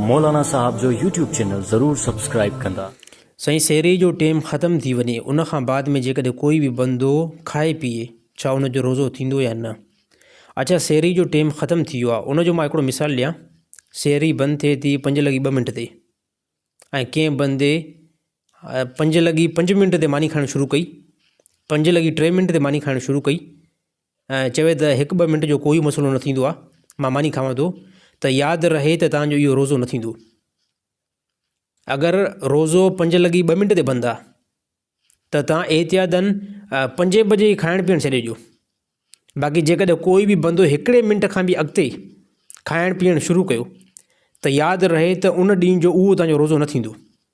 مولانا صاحب جو YouTube channel ضرور سبسڪرائيب ڪندا. سائين سحري جو ٽيم ختم ٿي وڃي ان کان بعد ۾ جيڪڏهن ڪوئي به بندو کائي پيئي ڇا ان جو روزو ٿيندو يا نه اڇا سحري جو ٽيم ختم ٿي ويو آ ان جو مان هڪڙو مثال ڏيان سحري بند ٿئي ٿي پنج لڳي ٻه منٽ تي ۽ ڪنهن بندي پنج لڳي پنج منٽ تي ماني کائڻ شروع ڪئي پنج لڳي ٽي منٽ تي ماني کائڻ شروع ڪئي ۽ چوي ته هڪ ٻه منٽ جو ڪوئي مسئلو نه ٿيندو آهي مان ماني کاوان ٿو ته ياد رهي ته تانجو اهو روزو نه ٿيندو اگر روزو پنج لڳي ٻه منٽ تي بند آهي ته تان احتياطن پنجين بجي ئي کائڻ پيئڻ ڇڏي ڏيو باقي جيڪڏهن ڪوئي به بندو هڪڙي منٽ کان به اڳتي کائڻ پيئڻ شروع ڪيو ته ياد رهي ته ان ڏينهن جو اهو تانجو روزو نه ٿيندو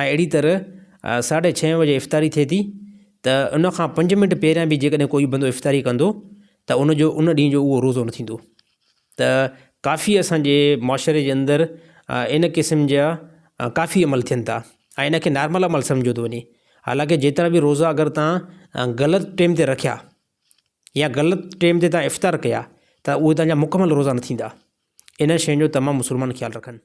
۽ اهڙي طرح ساڍي ڇهين بجي افطاري ٿئي ٿي ته ان کان پنج منٽ پهريان به جيڪڏهن ڪوئي بندو افطاري ڪندو ته ان جو ان ڏينهن جو اهو روزو نه ٿيندو ته ڪافي اسانجي معاشري جي اندر ان قسم جا ڪافي عمل ٿين ٿا ۽ ان کي نارمل عمل سمجهيو ٿو وڃي حالانڪه جيترا به روزا اگر تان غلط ٽيم تي رکيا يا غلط ٽيم تي تان افطار ڪيا ته اهو تان جا مڪمل روزا نه ٿيندا ان شين جو تمام مسلمان خيال رکن